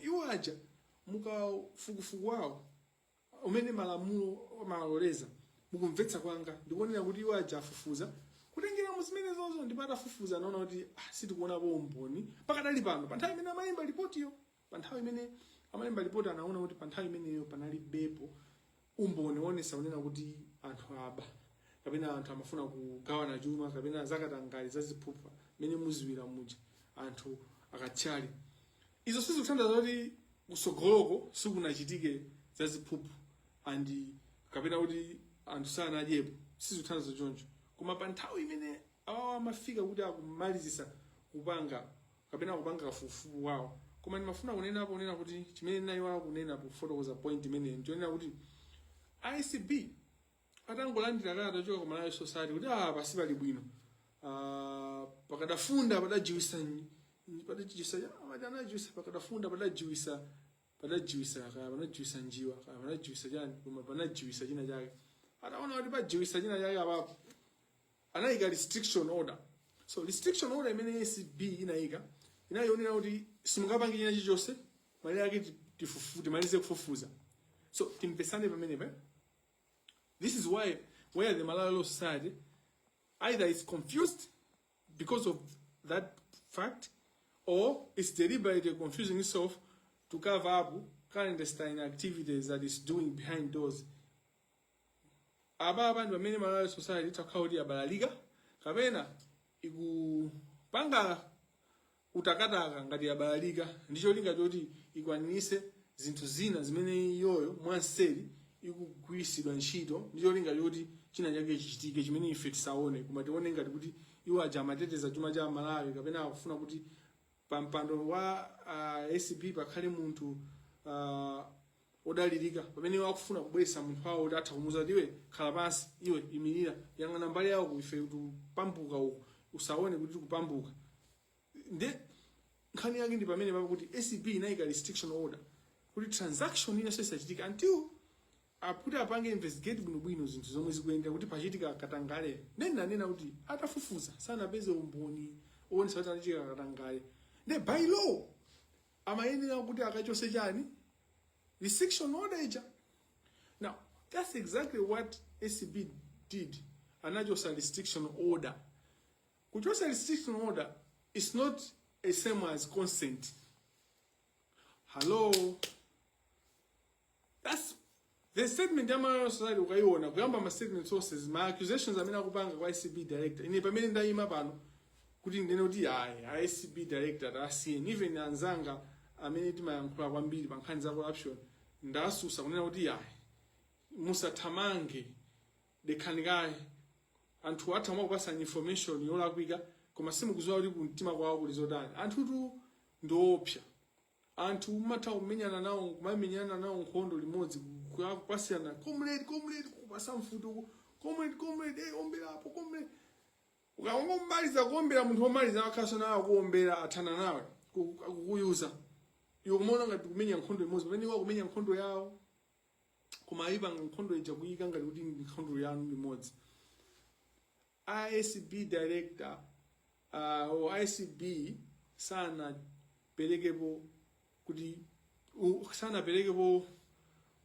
iwo aja mukafukufuku wawo umene malamulo amaloleza mukumvetsa kwanga ndikuonera kuti iwo aja afufuza kutengera mu zimenezonzo ndipo atafufuza anaona kuti ah, sitikuonapo umboni pakadali pano pa nthawi imene amalemba lipotiyo Pa nthawi imene amalemba lipoti anaona kuti pa nthawi imeneyo panalibepo umboni woonesa kunena kuti anthu aba kapena anthu amafuna kugawana chuma kapena zakatangale za ziphuphu mmene muziwira muja anthu akatchali izo sizikuthandauza kuti kusogoloko sikunachitike za ziphuphu and kapena kuti anthu sanadyepo sizikuthandauza choncho koma pa nthawi imene awawa amafika kuti akumalizisa kupanga kapena kupanga kafukufuku wawo koma ndimafuna kunenapo kunena kuti chimene ndinayiwala kunena pofotokoza point imeneyi ndichonena kuti acb atangolandira kalata yochoka ku malawi law society kuti ah pasi pali bwino ah, pakadafunda padajiwisa nyi- padajiwisa amati anajiwisa pakadafunda padajiwisa padajiwisa kaya panajiwisa njiwa kaya panajiwisa chani koma panajiwisa china chake ataona kuti pajiwisa china chake apapo anayika restriction order so restriction order imene acb inayika inaonera kuti simungapange china chilichonse malire ake ti- tifufu- timalize kufufuza so timvetsane pamenepe this is why where the malawi law society either is confused because of that fact or it's deliberately confusing itself to cover up clandestine activities that it's doing behind doors aba abantu bamene malawi society itakhala kuti abalalika kapena ikupanga utakataka ngati yabalalika ndi cholinga choti ikwaniritse zinthu zina zimene iyoyo mwanseri ikugwiritsidwa ntchito ndi cholinga choti china chake chichitike chimene ife tisaone koma tione ngati kuti iwo aja amateteza chuma cha malawi kapena akufuna kuti pa mpando wa uh, acb pakhale munthu uh, odalirika pamene iwo akufuna kubweretsa munthu wawo kuti atha kumuuza kuti iwe khala pansi iwe imirira yang'ana mbali ya uko ife tikupambuka uku usaone kuti tikupambuka ndi nkhani yake ndi pamene papo kuti acb inayika restriction order kuti transaction ina isachitike until mpaka apange investigate bwinobwino zinthu zomwe zikuyenda kuti pachitika katangale nde ananena kuti atafufuza sanapeze umboni owonesa kuti panachitika katangale nde by law amayenera kuti akachose chani restriction order ija now that's exactly what acb did anachosa restriction order kuchosa restriction order is not a same as consent hello That's the statement ya Malawi Society ukaiona kuyamba ma statements onse ma accusations amene akupanga kwa ACB director. Ine pamene ndayima pano kuti ndinene kuti ayi a ACB director asiyeni even anzanga amene timayankhula kwambiri pa nkhani za corruption ndasusa kunena kuti ayi musathamange dekhani kaye anthu atha mwina kukupasa information yolakwika koma simukuziwa kuti kumtima kwawo kuli zotani anthutu ndiopsa anthu umatha kumenyana nawo kumamenyana nawo nkhondo limodzi kwa- kwasiyana comrade comrade kupasa mfuti uku, comrade comrade eh ombera apo comrade ukangomaliza kuombera munthu omaliza akhaso nawo kuombera athana nawe ku- akukuyuza iwe kumaona ngati mukumenya nkhondo imodzi pamene iwo akumenya nkhondo yawo koma ayipanga nkhondo ija kuyika ngati kuti ndi nkhondo yanu limodzi a acb director uh, or acb sanapelekepo kuti u- sanapelekepo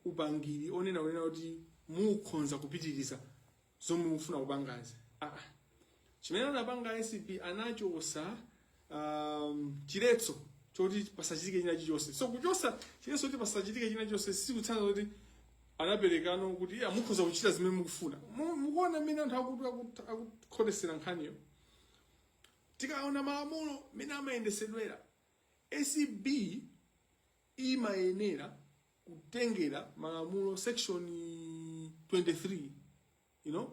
upangiri onena kunena kuti mukhonza kupitiriza zomwe mufuna kupangazi ah. chimene anapanga acb anachosa um, chiletso choti pasachitike china chilichonse so kuchosa chiletso choti pasachitike china chilichonse sikutanthauza kuti anaperekanso kuti iya mukhoza kuchita zimene mukufuna Mu- mukuona mmene anthu akuti akut- akukhotesera nkhaniyo tikaona malamulo mmene amayendesedwera acb imayenera kutengera malamulo section 23 you know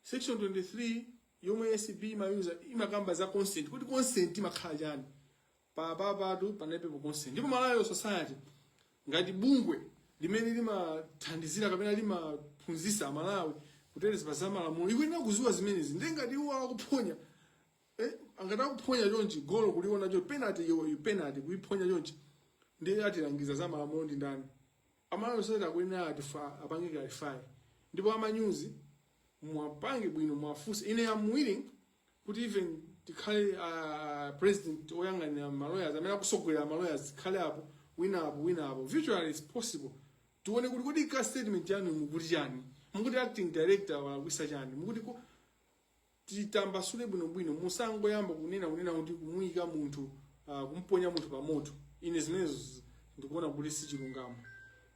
Section 23 yomwe ACB imayuza imakamba za consent kuti consent imakhala chani pa pa patu panalibe pa consent ndipo Malawi Law Society ngati bungwe limene limathandizira kapena limaphunzisa aMalawi kuteteza pa za malamulo ikuyenera kuziwa zimenezi ndiye ngati iwo akuphonya eh, ngati akuphonya chonchi golo kuliona chonchi penalty yo penalty kuiphonya chonchi ndiye atilangiza za malamulo ndi ndani a Malawi Law Society akuyenera atifa apange clarify ndipo amanyuzi muwapange bwino muwafunse ine am willing kuti even tikhale uh, president oyang'anira malawyers amene akusogolera malawyers tikhale apo wina apo wina apo virtually is possible tione kuti kodi ka statement yanu mukuti chani mukuti acting director walakwisa chani mukuti ko- titambasule bwinobwino musangoyamba kunena kunena kuti kumuyika munthu uh, kumponya munthu pa moto ine zimenezo zi- ndikuona kuti si chilungamo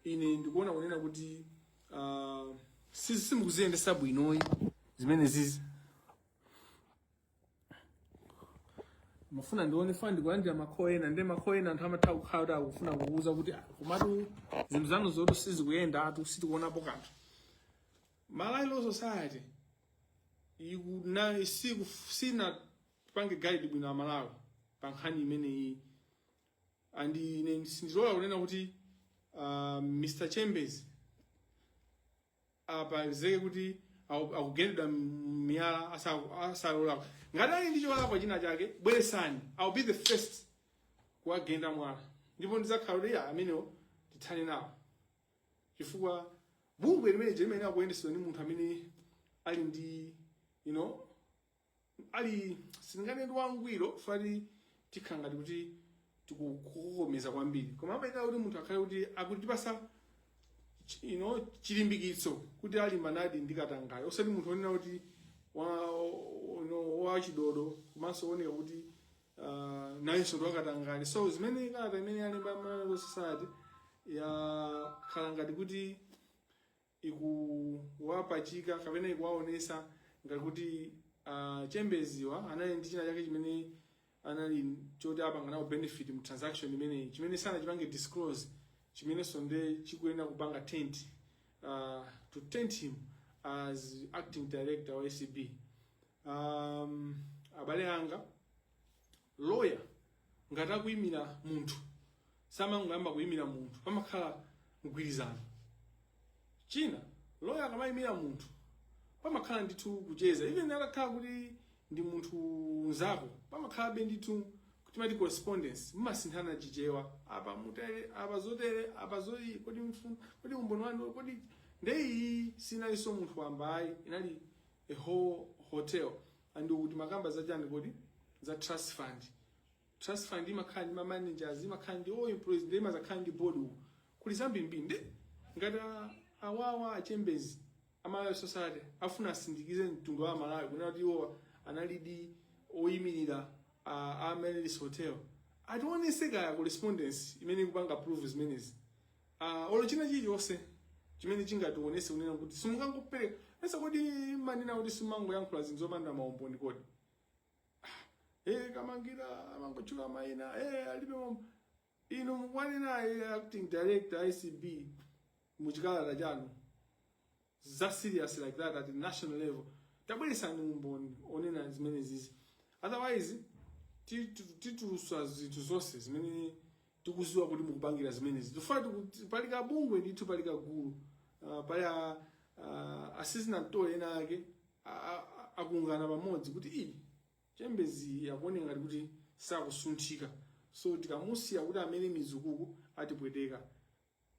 ine ndikuona kunena kuti uh, si- simukuziyendesa bwinoyi zimene zizi mafuna ndione fana ndikulandira ma call ena ndi ma call ena anthu amatha kukhala kuti akufuna kukuuza kuti "Ah, komatu zinthu zanuzotu sizikuyendatu sitikuonapo kanthu Malawi Law Society ikuna siku sinapange guide bwino amalawi pa nkhani imeneyi and ine sindilola kunena kuti uh, Mr Chembezi apezeke kuti aku- akugendedwa miyala asa- asalola ngati ali ndi cholakwa china chake bweresani I'll be the first kuwagenda mwala ndipo ndidzakhala kuti ya amenewo tithane nawo chifukwa bungwe limene lija limayenera kuyendetsedwa ndi munthu amene ali ndi you know ali silinganene ndi wangwiro pati tikhala ngati kuti tikukokomeza kwambiri koma amayenera kuti munthu akhale kuti akutipasa chi- you know chilimbikitso kuti alimbanadi ndi katangale osati munthu onena kuti wa you know, wachidodo komanso oneka kuti uh, nayenso ndiwakatangale so zimene kalata imene yalemba malawi society yakhala ngati kuti ikuwapachika kapena ikuwaonesa ngati kuti uh, a chembeziwa anali ndi china chake chimene anali oti apanga nawo benefit mu transaction imeneyi chimene sanachipange disclose chimenenso nde chikuyenera kupanga taint uh, to taint him as acting director wa acb um, abale anga lawyer ngati akuyimira munthu samangoyamba kuyimira munthu pamakhala mgwirizano chinanso lawyer akamayimira munthu pamakhala ndithu kucheza even atakhala kuti ndi munthu mnzako pamakhalabe ndithu kuti ma correspondence mumasinthana tichite apa mutere apa zotere apa zoyi kodi mfu- kodi umboni wanu kodi ndeyi sinalinso munthu wambayi inali a whole hotel and ukuti mukamakamba za chani kodi za trust fund trust fund imakhala ndi ma managers imakhala ndi ma employees nde imazakhala ndi board uku kuli zambirimbiri nde ngati a- awawa a chembezi a malawi law society afuna asindikize mtundu wa malawi kunena kuti iwowa analidi oyimirira a a amaryllis hotel ationese kaya correspondence imene ikupanga prove zimenezi Ah, olo china chilichonse chimene chingatiwonese kunena kuti simungangopereka ese kodi mumanena kuti simumangoyankhula zinthu zopanda maumboni kodi eh kamangira amangotchula maina eh alibe umboni inu mukwanena eh, acting director ACB muchikalata chanu za serious like that at national level tabweresani umboni onena zimenezizi otherwise titu- titulusa zinthu zonse zimene tikuziwa kuti mukupangira zimenezi tikuona kuti pali kabungwe ndithu pali kagulu uh, pali a- a- assistant to ena ake a- a- a- akungana pamodzi kuti iyi chembezi akuoneka ngati kuti sakusunthika so tikamusiya kuti amange mizu uku atipweteka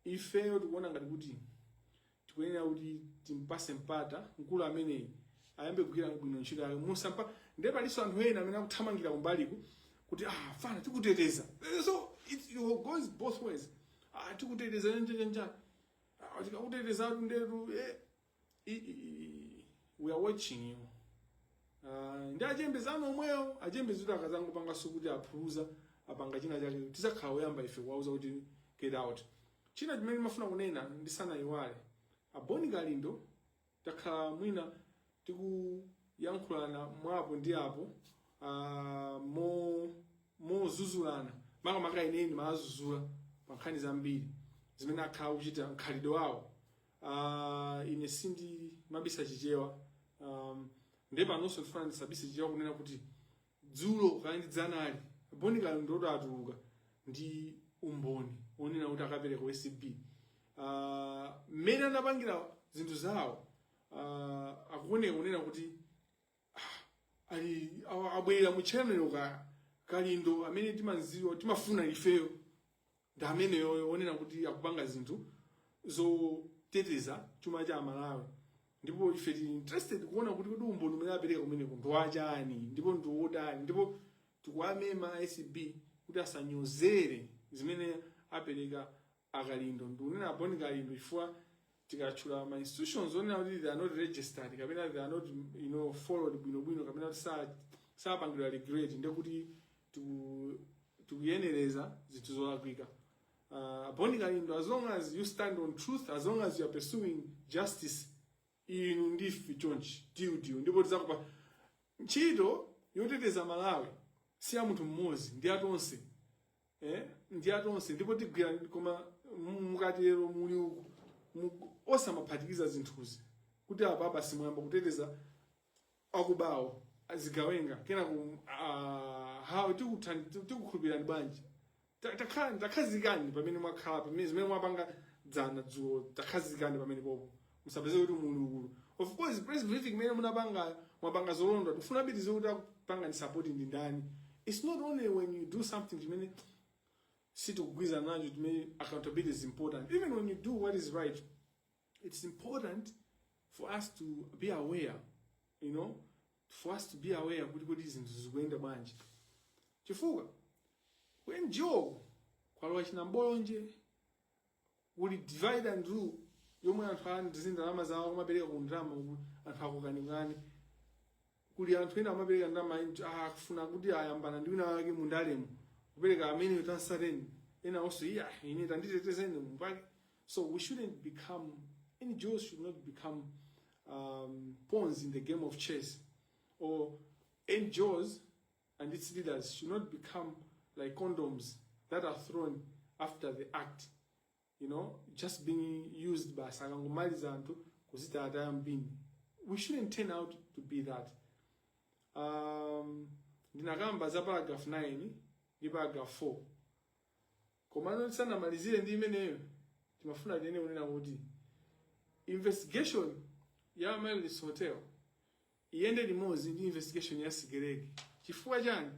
Ifeyo tikuona ngati kuti tikuyenera kuti timpase mpata mkulu ameneyi ayambe kugwira bwino ntchito yake musampatse ndiye palinso anthu ena amene akuthamangira kumbaliku kuti ah fana tikuteteza Eh, so it, it goes both ways ah tikuteteza a chakwera ah tikakuteteza tundetu eh we are watching you uh, ndi a Chembezi omwewo a Chembezi kuti akazangopanganso kuti aphuluza apanga china chake tizakhala oyamba ife kuwauza kuti get out china chimene ndimafuna kunena ndisanayiwale a boni kalindo takhala mwina tikuyankhulana mwapo ndi apo uh, mo mozuzulana makamaka ine ndimawazuzula pa nkhani zambiri zimene akhala kuchita mkhalidwe wawo uh, ine sindimabisa chichewa um, nde panonso ndifuna ndisabise chichewa kunena kuti dzulo kaya ndi dzanali boni kalindo atuluka ndi umboni onena kuti akapereka ku acb uh, mmene anapangira zinthu zawo uh, akuoneka kunena kuti ali awa- abwerera mu channel ka kalindo amene timamziwa timafuna ifeyo ndi ameneyoyo onena kuti akupanga zinthu zoteteza chuma cha amalawi ndipo ife tili interested kuona kuti kodi umboni umene apereka kumeneko ndi wachani ndipo ndi wotani ndipo tikuwamema acb kuti asanyozere zimene apereka a kalindo ndikunena a boni kalindo chifukwa tikatchula ma institutions onena kuti they are not registered kapena they are not you know followed bwinobwino kapena kuti sa- sapangidwa regulate ndekuti tiku- tikuyenereza zinthu zolakwika uh, boni kalindo as long as you stand on truth as long as you are pursuing justice inu ndife chonchi tiutiu ndipo tizakupa ntchito yoteteza malawi si ya munthu mmodzi ndi ya tonse eh? ndi ya tonse ndipo tigwira koma mu- mukatero muli uku mu- osamaphatikiza zinthuzi kuti apa basi muyamba kuteteza akubawo azigawenga kenako uh, how tikuthan- ti- tikukhulupirani bwanji Ta- takhala- takhazikani pamene mwakhala pamene zimene mwapanga dzana dzulo takhazikani pamenepopo musapezeke kuti muli uku of course press briefing imene munapangayo mwapanga zolondola tikufuna tiziwe kuti akupangani support ndi ndani it's not only when you do something chimene sitikugwirizana nacho chimene accountability is important even when you do what is right it's important for us to be aware you know for us to be aware kuti kodi zinthu zikuyenda bwanji chifukwa ku ngo kwalowa chinambolonje kuli divide and rule yomwe anthu ali ndi ndalama zawo amapereka ku ndalama uku anthu akukanikani kuli anthu ena amapereka ndalama int- ah, akufuna kuti ayambana ndi wina wake mu ndalemo kupereka amene tansateni winanso iyai ine tanditetezeni mupake so we shouldn't become ngos should not become um, pawns in the game of chess or ngos and its leaders should not become like condoms that are thrown after the act you know just being used basi akangomaliza anthu kuzita ataya m'bini we shouldn't turn out to be that um, ndinakamba za paragraph 9 ndi paragraph 4 Komano tisanamalizire ndi imeneyo timafuna tinene kunena kuti investigation ya Amaryllis Hotel iyende limodzi ndi investigation ya Sigelege. Chifukwa chani?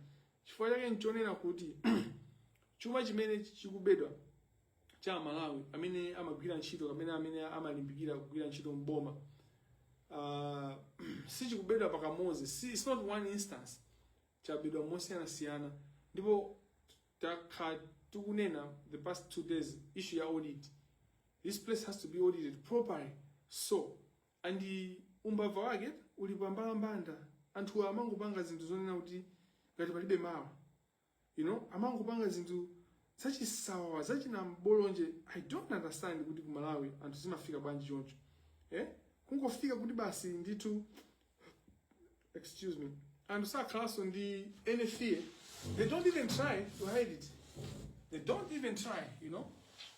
Chifukwa chake nchonena kuti chuma chimene chikubedwa cha Malawi amene amagwira ntchito kapena amene amalimbikira kugwira ntchito mboma uh, ah, sichikubedwa pakamodzi si, it's not one instance chabedwa mosiyanasiyana ndipo takhala tikunena the past two days issue ya audit this place has to be audited properly so and umbava wake uli pambalambanda anthu amangopanga zinthu zonena kuti ngati palibe mawa you know amangopanga zinthu zachisawawa zachinambolonje i don't understand kuti ku malawi anthu zimafika bwanji choncho eh? kungofika kuti basi ndithu excuse me anthu sakhalanso ndi any fear they don't even try to hide it they don't even try you know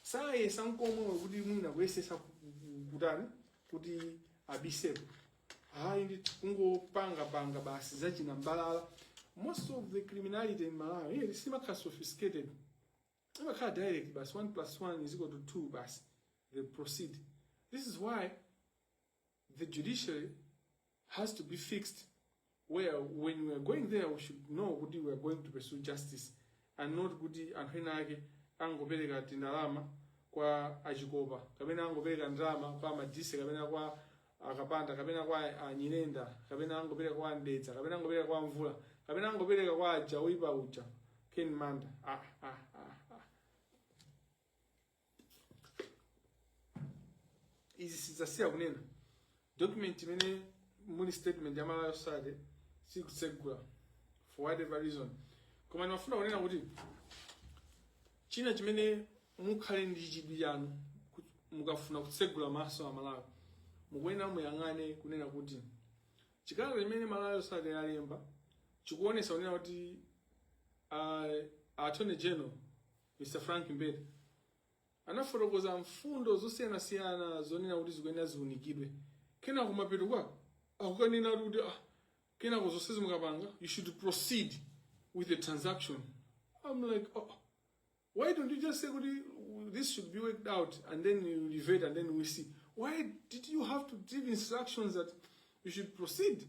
sayesa nkomwe kuti mwina kuyesesa ku- ku- kutani kuti abiseko ayi ndi kungopanga panga basi zachinambalala most of the criminality in malawi eh, simakhala sophisticated imakhala direct basi 1 plus 1 is equal to 2 basi they proceed this is why The judiciary has to be fixed where when we are going there we should know kuti we are going to pursue justice and not kuti anthu ena ake angopereka tindalama kwa achikopa kapena angopereka ndalama kwa amadise kapena kwa akapanda kapena kwa anyirenda kapena angopereka kwa mdeza kapena angopereka kwa mvula kapena angopereka kwa aja oyipa uja ken manda ah, ah, ah, ah. izi sidzasiya kunena document imene muli statement ya malawi law society sikutsegula for whatever reason koma ndimafuna kunena kuti china chimene mukhale ndi chidwi chanu ku- mukafuna kutsegula maso a malawi mukuyenera muyang'ane kunena kuti chikalata chimene malawi law society yalemba chikuonesa kunena kuti uh, attorney general Mr. Frank Mbeta anafotokoza mfundo zosiyanasiyana zonena kuti zikuyenera ziunikidwe kenako mapeto kwake akukanena ali kuti ah, kenako zonsezi mukapanga you should proceed with the transaction i'm like oh, why don't you just say kuti this should be worked out and then you revert and then we see why did you have to give instructions that you should proceed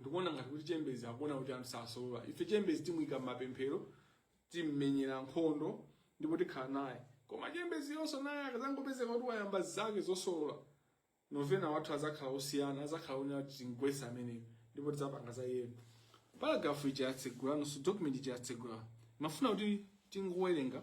ndikuona ngati kuti chembezi akuona kuti anthu sasolola. ife chembezi timuyika m'mapemphero timmenyera nkhondo ndipo tikhala naye koma chembezi yonso naye akazangopezeka kuti wayamba zake zosolola ma novena athu azakhala osiyana azakhala onena kuti tingwesa ameneyo ndipo tidzapanga za iyeyo paragraph ija yatsegula nonso document ija yatsegula timafuna kuti tingowerenga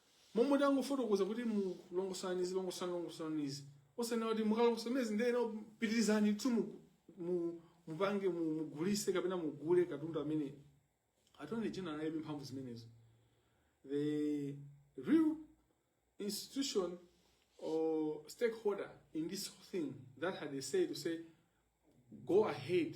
Momwe tangofotokoza kuti longosolani izi longosolani longosolani izi osanena kuti mukalongosola zimenezi ndiyeno pitirizani tsopano mu, mu mupange mu- mugulise kapena mugule katundu amene Attorney General analibe mphamvu zimenezo the real institution or stakeholder in this whole thing that had a say to say go ahead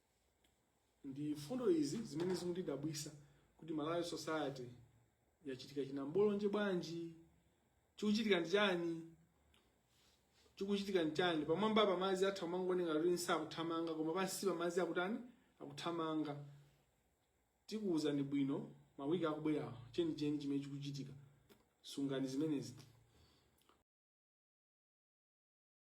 ndi mfundo izi zimene zikundidabwisa kuti Malawi Law Society yachitika chinambolonje bwanji chikuchitika ndi chani chikuchitika ndi chani pamwamba pa madzi atha kumaoneka kuti sakuthamanga koma pansi pa madzi akutani akuthamanga tikuwuzani bwino mawiki akubwerawa chenicheni chimene chikuchitika sungani zimenezi